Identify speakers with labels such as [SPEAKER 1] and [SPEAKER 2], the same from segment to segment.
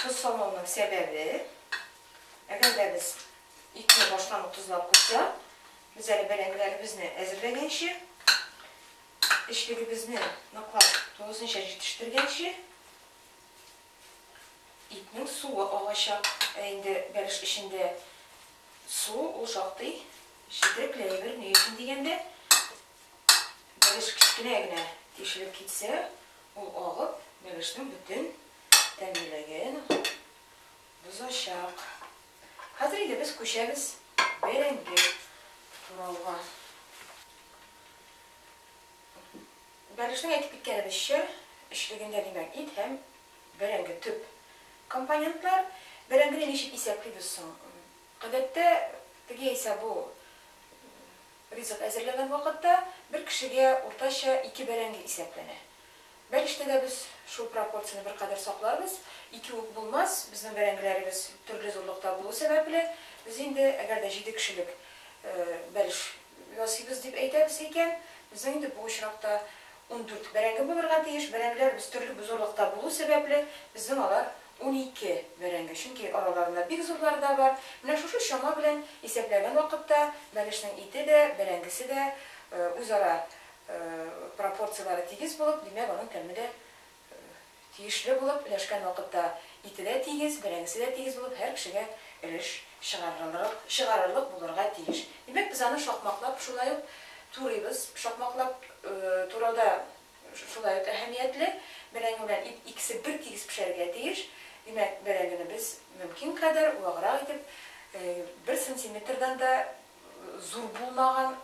[SPEAKER 1] Тоз салмауның сәбәбе, әгәр дә без итне баштан ук тозлап куйсак, без әле бәрәңгеләребезне әзерләгәнче, эчлегебезне ныклап тулысынча җитештергәнче, итнең суы агачак. Ә инде бәлеш эчендә су ул шактый четерекләйдер, ни өчен дигәндә, бәлеш кечкенә генә тишелеп китсә, Ул агып, миләшнең бөтен тәмлелеген бозачак. Хәзер инде без күчәбез бәрәңге турауга. Бәлешнең әйтеп киткәнебезчә, өчлегендә, димәк, ит һәм бәрәңге төп компонентлар. Бәрәңгене ничек исәплибез соң? Гадәттә, теге яисә бу Ризык әзерләгән вакытта бер кешегә уртача ике бәрәңге исәпләнә. Бәлештә дә без шул пропорцияне беркадәр сакларбыз. Ике үк булмас, безнең бәрәңгеләребез төрле зурлыкта булу сәбәпле, без инде, әгәр дә җиде кешелек бәлеш ясыйбыз дип әйтәбез икән, безнең инде бу очракта ундүрт бәрәңге булырга тиеш. Бәрәңгеләребез төрле зурлыкта булу сәбәпле, безнең алар Унике бәрәңге, чөнки араларында бик зурлары да бар. Менә шушы чама белән исәпләгән вакытта бәлешнең ите дә, бәрәңгесе дә үзара пропорцияләре тигез булып, димәк, аның тәме дә тиешле булып, өләшкән вакытта ите дә тигез, бәрәңгесе дә тигез булып, һәр кешегә өлеш чыгарырлык булырга тиеш. Димәк, без аны шакмаклап шулай ук турыйбыз. Шакмаклап турауда Шулай ук әһәмиятле, бәрәңге белән ит икесе бертигез пешәргә тиеш. Димәк, бәрәңгене без мөмкин кадәр ваграк итеп, бер сантиметрдан да зур булмаган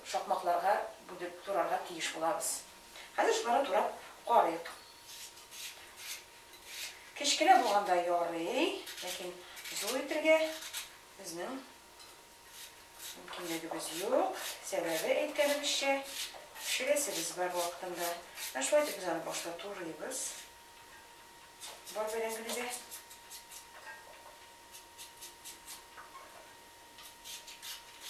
[SPEAKER 1] шакмакларга бүлеп турарга тиеш булабыз. Хәзер шуларны турап карыйк. Кечкенә булганда ярый, ләкин зур итергә безнең Мөмкинлегебез юк, сәбәбе, әйткәнебезчә, пешерәсебез бар вакытында. Менә шулай итеп без аны башта турыйбыз. Бар белән генә дә.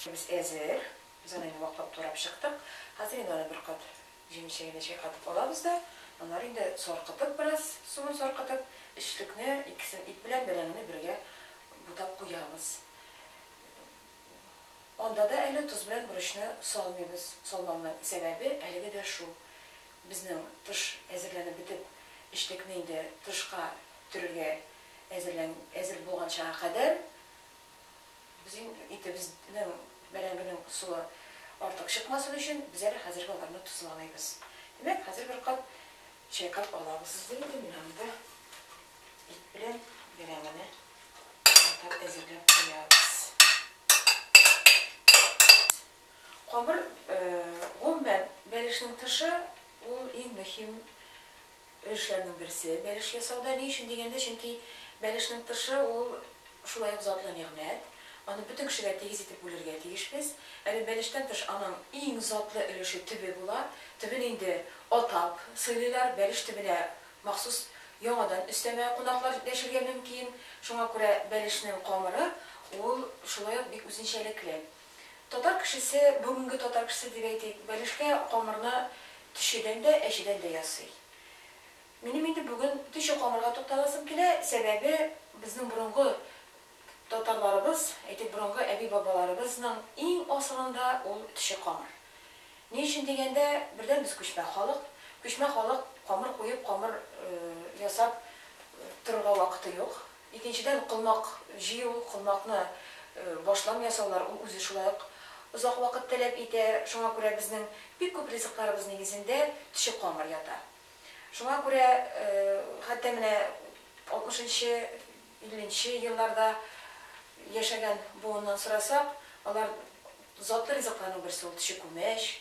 [SPEAKER 1] Без әзер. Без аны инде ваклап турап чыктык. Хәзер инде аны бер кат Җемешегенә чайкатып алабыз да, аннары инде саркытып бераз, суын саркытып, эчлекне, икесен ит белән бәрәңгене бергә бутап куябыз. Анда да әле тоз белән борычны салмыйбыз. Салмауның сәбәбе әлеге дә шул. Безнең тыш әзерләнеп бетеп, эчлекне инде тышка төрергә әзерлән әзер булганчага кадәр, Безнең итебезнең бәрәңгенең посуы артык чыкмасын өчен, без әле хәзерге аларны тозламыйбыз. Димәк, хәзер бер кат чайкап алабыз. Сезгә инде менә монда ит белән бәрәңгене катнап әзерләп куябыз. Камыр, гомумән, бәлешнең тышы, ул иң мөһим. Өлешләрнең берсе, бәлеш ясауда. Ни өчен дигәндә, чөнки бәлешнең тышы ул шулай ук затлы нигъмәт. Аны бөтен кешегә тигез итеп бүлергә тиешбез. Әле бәлештән тыш аның иң затлы өлеше төбе була. Төбен инде атап сыйлыйлар. Бәлеш төбенә махсус яңадан өстәмә кунаклар дәшергә мөмкин. Шуңа күрә бәлешнең камыры ул шулай ук бик үзенчәлекле. Татар кешесе, бүгенге татар кешесе дип әйтик, бәлешкә камырны төчедән дә, әчедән дә ясый. Минем инде бүген төче камырга тукталасым килә, сәбәбе, безнең борынгы татарларыбыз, әйтик, борынгы әби-бабаларыбызның иң асылында ул төче камыр. Ни өчен дигәндә, бердән, без күчмә халык. Күчмә халык камыр куеп, камыр ясап торырга вакыты юк. Икенчедән, колмак җыю, колмакны башлам ясаулар, ул үзе шулай ук озак вакыт таләп итә. Шуңа күрә безнең бик күп ризыкларыбыз нигезендә төче камыр ята. Шуңа күрә хәтта менә алтмышынчы, илленче елларда яшәгән буыннан сорасак, алар затлы ризыкларның берсе ул төче күмәч,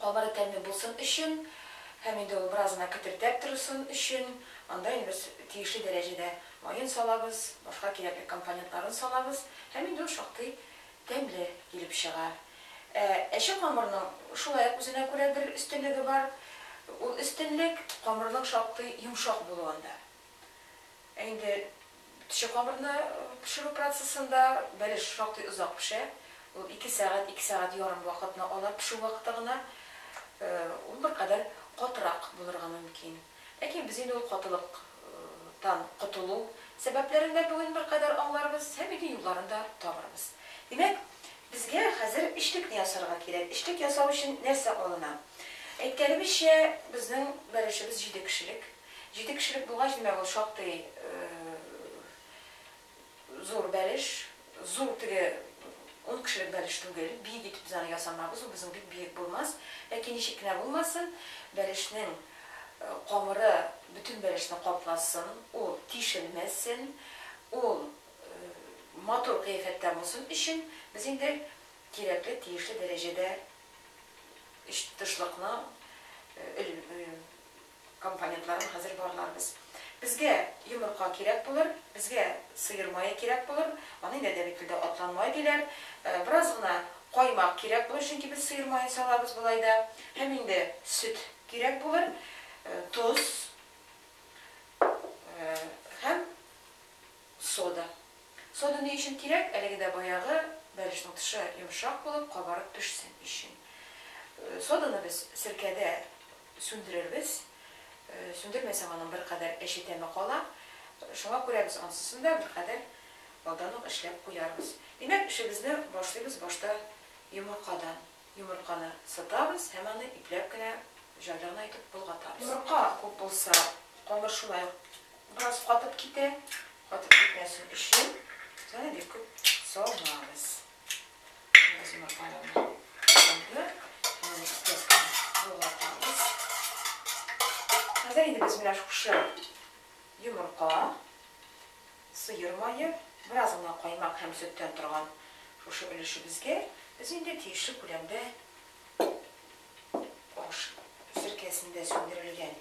[SPEAKER 1] Кабары тәмле булсын өчен һәм инде ул беразына кетердәп торсын өчен, анда инде без тиешле дәрәҗәдә маен салабыз, башка кирәкле компонентларын салабыз һәм инде ул шактый тәмле килеп чыга. Ә әче камырның шулай ук үзенә күрә бер өстенлеге бар. Ул өстенлек, камырның шактый йомшак булуында. Ә инде төче камырны пешерү процессында бәлеш шактый озак пешә. Ул ике сәгать, ике сәгать ярым вакытны ала пешү вакыты гына. Ул беркадәр катырак булырга мөмкин. Ләкин без инде ул катылыктан котылу сәбәпләрен дә бүген беркадәр аңларбыз һәм инде юлларын да табырбыз. Димәк, безгә хәзер эчлекне ясарга кирәк. Эчлек ясау өчен нәрсә алына? Әйткәнебезчә, безнең бәлешебез җиде кешелек. Җиде кешелек булгач, димәк, ул шактый зур бәлеш. Зур теге ун кешелек бәлеш түгел. Биек итеп без аны ясамабыз, ул безнең бик биек булмас. Ләкин ничек кенә булмасын, бәлешнең камыры бөтен бәлешне капласын, ул тишелмәсен, ул матур кыяфәттә булсын өчен, без инде кирәкле, тиешле дәрәҗәдә өч тышлыкны Компонентларын хәзер барларбыз. Безгә йомырка кирәк булыр, безгә сыер мае кирәк булыр, аны инде әдәби телдә атлан май диләр. Бераз гына каймак кирәк булыр, чөнки без сыер маен салабыз болай да. Һәм инде сөт кирәк булыр, тоз һәм Сода. Сода ни өчен кирәк? Әлеге дә баягы бәлешнең тышы йомшак булып, кабарып пешсен өчен. Соданы без серкәдә сүндерербез. Сүндермәсәң, аның беркадәр әче тәме кала. Шуңа күрә без ансысын да беркадәр алдан ук эшләп куярбыз. Димәк, эшебезне башлыйбыз башта йомыркадан. Йомырканы сытабыз һәм аны ипләп кенә җайланайтып болгатабыз. Йомырка күп булса, камыр шулай ук бераз катып китә. Катып китмәсен өчен без аны бик күп салмабыз. Без йомыркаларны салды, аны ипләп кенә болгатабыз. Хәзер инде без менә шушы йомырка Сыер мае, бераз гына каймак һәм сөттән торган шушы өлешебезгә без инде тиешле күләмдә аш серкәсендә сүндерелгән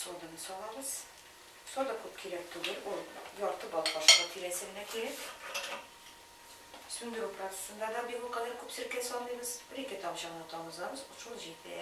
[SPEAKER 1] соданы салабыз. Сода күп кирәк түгел, ул ярты бал кашыгы тирәсе генә кирәк. Сүндерү процессында да бик ул кадәр күп серкә салмыйбыз, бер-ике тамчы гына тамызабыз, шул җитә.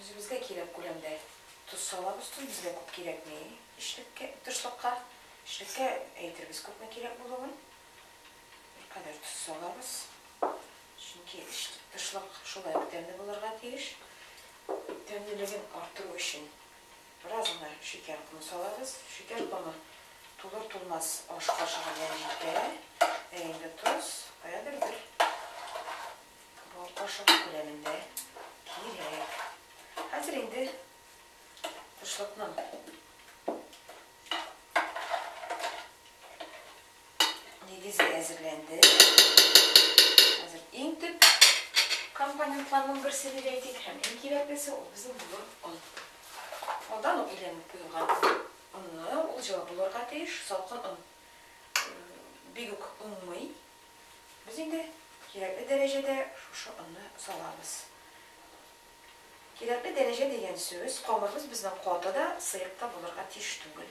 [SPEAKER 1] Үзебезгә кирәк күләмдә тоз салабыз, тоз безгә күп кирәкми эчлеккә, тышлыкка. Эчлеккә әйтербез күпме кирәк булуын. Беркадәр тоз салабыз. Чөнки тышлык шулай ук тәмле булырга тиеш. Тәмлелеген арттыру өчен Бераз гына шикәр комы салабыз. Шикәр комы тулыр-тулмас аш кашыгы белән җитә. Ә инде тоз каядыр бер бал кашыгы күләмендә кирәк. Хәзер инде кышлыкның нигезе әзерләнде. Хәзер иң төп компонентларның берсе дип әйтик һәм иң кирәклесе ул безнең булыр он. Алдан ук иләнеп куелган онны ул җылы булырга тиеш, салкын он бик үк уңмый. Без инде кирәкле дәрәҗәдә шушы онны салабыз. Кирәкле дәрәҗә дигән сүз, камырыбыз безнең каты да, сыек та булырга тиеш түгел.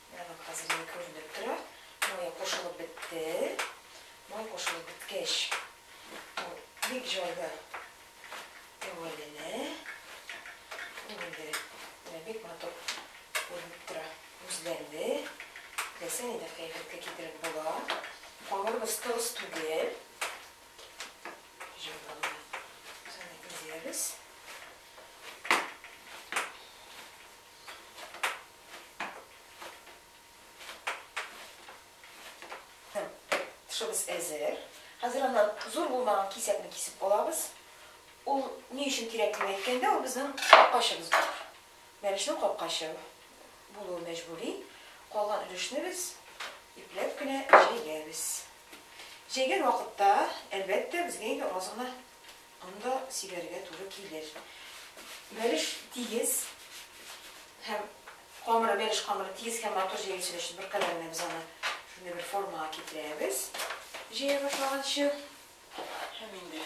[SPEAKER 1] Менә хәзер инде күренеп тора. Май кушылып бетте. Май кушылып беткәч, ул бик җайлы тәвәләнә. Ул инде менә бик матур күренеп тора, үзләнде. Теләсә нидә кыяфәткә китереп була. Камырыбыз тыгыз түгел. Җайлы гына без аны изәбез. Тышыбыз әзер. Хәзер аннан зур булмаган кисәкне кисеп алабыз. Ул ни өчен кирәк дип әйткәндә, ул безнең капкачыбыз бар. Бәлешнең капкачы булуы мәҗбүри. Калган өлешне без ипләп кенә җәйгәбез. Җәйгән вакытта, әлбәттә, безгә инде аз гына Анда сибәргә туры килер. Бәлеш тигез һәм камыры, бәлеш камыры тигез һәм матур җәелсен өчен беркадәр генә без аны шундый бер формага китерәбез, җәя башлаганчы. Һәм инде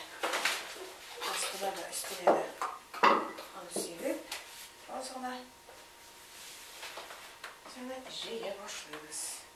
[SPEAKER 1] астына да, өстенә дә аны сибеп, аз гына җәя башлыйбыз.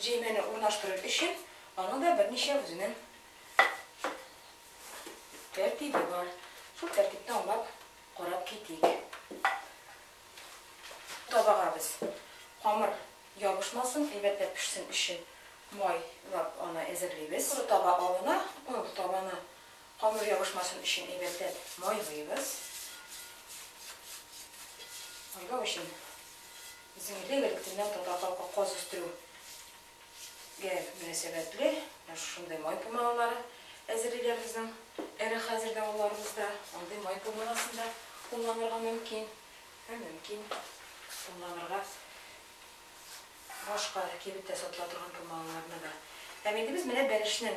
[SPEAKER 1] Җәймәне урнаштырыр өчен аның да берничә үзенең тәртибе бар. Шул тәртипне аңлап карап китик. Табага без камыр ябышмасын, әйбәтләп пешсен өчен майлап аны әзерлибез. Коры таба алына, ул табаны Камыр ябышмасын өчен әйбәтләп майлыйбыз. Майлау өчен безнең илдә элек электеннән татар халкы каз үстерү гә мөнәсәбәтле шушындый май пумалары әзерлиләр безнең эре хәзер дә авылларыбызда андый май пумаласын да кулланырга мөмкин һәм мөмкин кулланырга башка кибеттә сатыла торган пумаларны да һәм инде без менә бәлешнең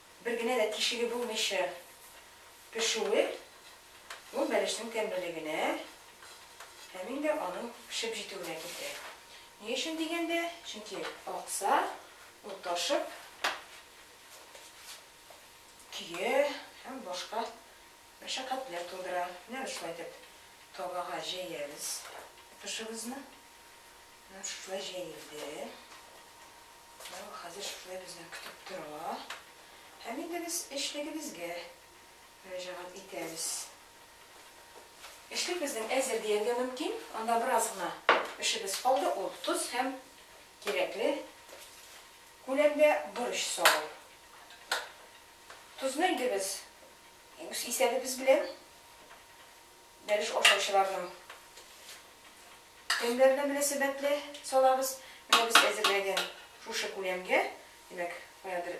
[SPEAKER 1] Бер генә дә тишеге булмыйча пешүе, ул бәлешнең тәмлелегенә һәм инде аның пешеп җитүенә китерә. Ни өчен дигәндә, чөнки акса, ул ташып, көя һәм башка мәшәкатьләр тудыра. Менә без шулай итеп табага җәябез тышыбызны. Менә шушылай җәелде. Менә ул хәзер шушылай безне көтеп тора. Һәм инде без эшлегебезгә мөрәҗәгать итәбез. Эшлек безнең әзер дияргә мөмкин. Анда бераз гына эшебез калды, ул тоз һәм кирәкле күләмдә борыч салу. Тозны инде без үз исәбебез белән Бәлеш ашаучыларның тәмнәренә мөнәсәбәтле салабыз. Менә без әзерләгән шушы күләмгә, димәк, каядыр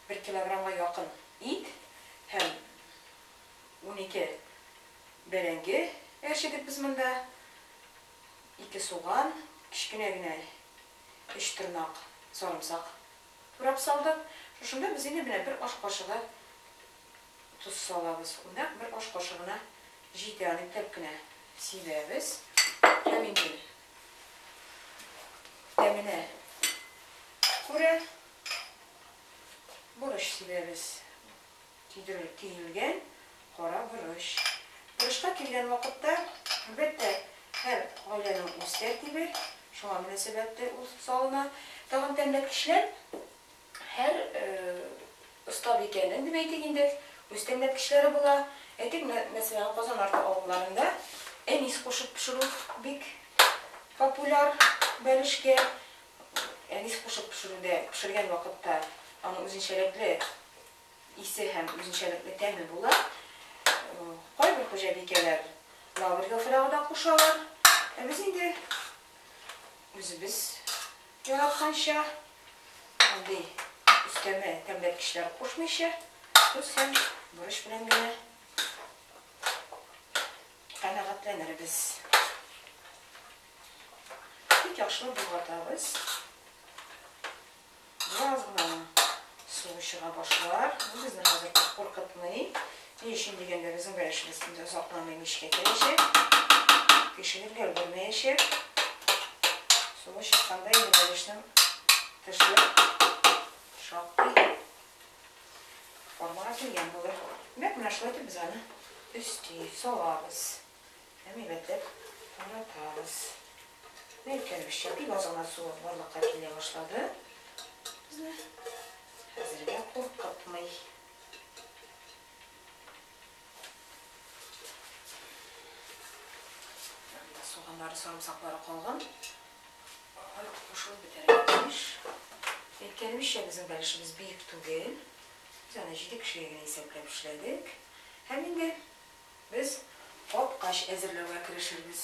[SPEAKER 1] бер килограммга якын ит һәм унике бәрәңге әрчедек без монда. Ике суган, кечкенә генә өч тырнак сарымсак турап салдык. Шушында без инде менә бер аш кашыгы тоз салабыз. Нәкъ бер аш кашыгына җитә, аны ипләп кенә сибәбез. Һәм инде тәменә күрә борыч сибәбез. Көйдерелеп төелгән кара борыч. Борычка килгән вакытта, әлбәттә, һәр гаиләнең үз тәртибе, шуңа мөнәсәбәтле ул салына. Тагын тәмләткечләр. Һәр остабикәнең, дип әйтик инде, үз тәмләткечләре була. Әйтик, мәсәлән, Казан арты авылларында әнис кушып пешерү бик популяр бәлешкә. Әнис кушып пешерүдә, пешергән вакытта аның үзенчәлекле исе һәм үзенчәлекле тәме була. Кайбер хуҗабикәләр лавр яфрагы да кушалар. Ә без инде үзебез. Яратканча, андый өстәмә тәмләткечләр кушмыйча, тоз һәм борыч белән генә канәгатьләнербез. Бик яхшы болгатабыз. Бераз гына су чыга башлар. Бу безне хәзер куркытмый. Ни өчен дигәндә, безнең бәлешебез инде озакламый мичкә керәчәк, пешереп өлгермәячәк. Суы чыкканда инде бәлешнең тышы шактый формага килгән булыр. Димәк, менә шулай итеп без аны өсти салабыз һәм әйбәтләп таратабыз. Менә әйткәнебезчә, бик аз гына су барлыкка килә башлады. Безне хәзергә куркытмый. Соганнары, сарымсаклары калган. Алар кушылып бетәргә тиеш. Әйткәнемчә, безнең бәлешебез бик түгел. Без аны җиде кешегә генә исәпләп эшләдек. Һәм инде без капкач әзерләүгә керешербез.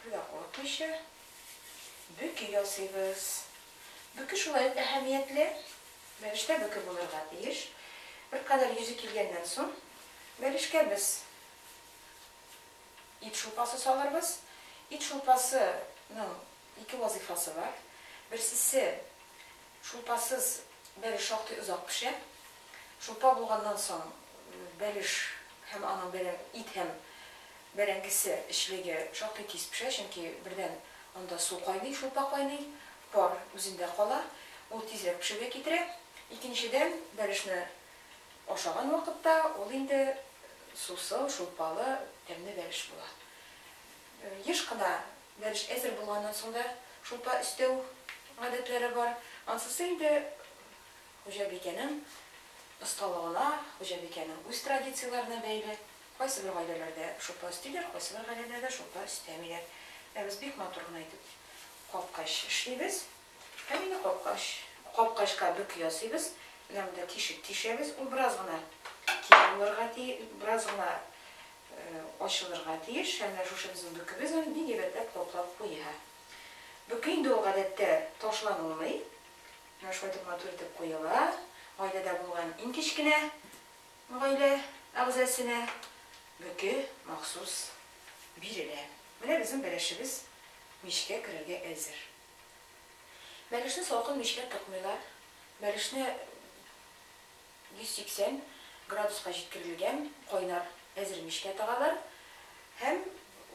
[SPEAKER 1] Күпергә курыкмыйча бөке ясыйбыз. Бөке шулай ук әһәмиятле бәлештә бөке булырга тиеш. Беркадәр йөзе килгәннән соң, бәлешкә без ит шулпасы салырбыз. Ит шулпасының ике вазыйфасы бар. Берсесе, Шулпасыз бәлеш шактый озак пешә. Шулпа булганнан соң бәлеш һәм аның бәрәң, ит һәм бәрәңгесе эчлеге шактый тиз пешә, чөнки бердән анда су кайный, шулпа кайный, пар үзендә кала, ул тизрәк пешүгә китерә. Икенчедән, бәлешне ашаган вакытта ул инде сусыл, шулпалы, тәмле бәлеш була. Еш кына бәлеш әзер булганнан соң да шулпа өстәү гадәтләре бар. Ансысы инде хуҗабикәнең осталыгына, хуҗабикәнең үз традицияләренә бәйле. Кайсыбер гаиләләрдә шулпа өстиләр, кайсыбер гаиләләрдә шулпа өстәмиләр. Ә без бик матур гына итеп капкач эшлибез. Һәм инде капкач, капкачка бөк ясыйбыз. Менә монда тишек тишәбез. Ул бераз гына киң булырга тиеш, бераз гына ачылырга тиеш һәм менә шушы безнең бөкебез аны бик әйбәтләп каплап куя. Бөке инде ул гадәттә ташланылмый, менә шулай итеп матур итеп куела, гаиләдә булган иң кечкенә гаилә әгъзасенә бөке махсус бирелә. Менә безнең бәрәчебез мичкә керергә әзер. Бәлешне салкын мичкә тыкмыйлар, бәлешне. 180 градуска җиткерелгән кайнар әзер мичкә тыгалар һәм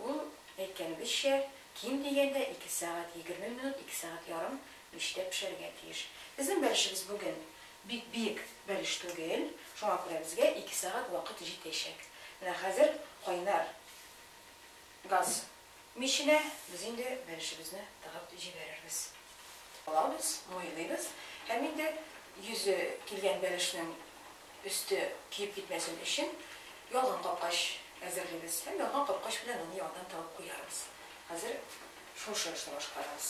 [SPEAKER 1] ул, әйткәнебезчә, ким дигәндә ике сәгать, егерме минут, ике сәгать ярым мичтә пешәргә тиеш. Безнең бәлешебез бүген бик биек бәлеш түгел, шуңа күрә безгә ике сәгать вакыт җитәчәк. Менә хәзер кайнар газ миченә без инде бәлешебезне тыгып җибәрербез. Алабыз, майлыйбыз һәм инде йөзе килгән бәлешнең өсте көеп китмәсен өчен ялган капкач әзерлибез һәм ялган капкач белән аны яңадан тыгып куярбыз. Хәзер шушы эшне башкарабыз.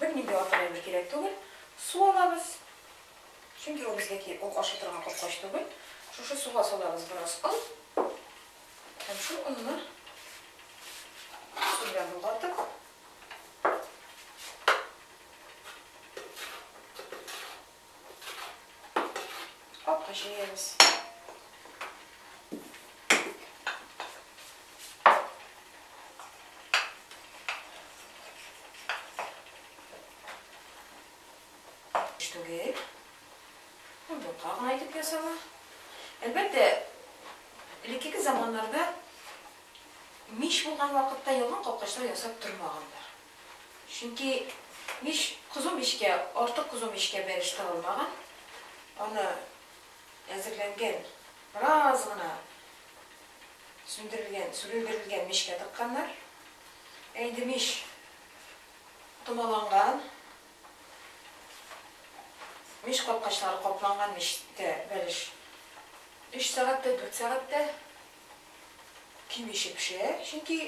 [SPEAKER 1] Бернинди артык әйбер кирәк түгел. Су алабыз. Чөнки ул безгәки ул ашый торган капкач түгел. Шушы суга салабыз бераз он. Һәм шул онны су белән болгатып, Капка җәябез. Түгел. Ботка гына итеп ясала. Әлбәттә, элеккеге заманнарда мич булган вакытта ялган капкачлар ясап тормаганнар. Чөнки мич кызу мичкә, артык кызу мичкә бәлеш тагылмаган. Аны әзерләнгән, бераз гына сүндерелгән, сүрелдерелгән мичкә тыкканнар. Ә инде мич томаланган, мич капкачлары капланган мичтә бәлеш өч сәгать тә, дүрт сәгать тә. кимичә пешә, чөнки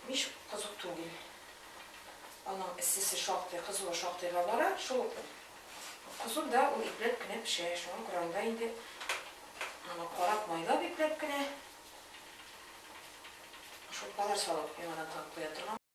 [SPEAKER 1] мич кызу түгел. Аның эссесе шактый, кызуы шактыйга бара. Шул ук кызу да ул ипләп кенә пешә. Шуңа күрә анда инде аны карап, майлап ипләп кенә шулпалар салып яңадан кабып куя торган.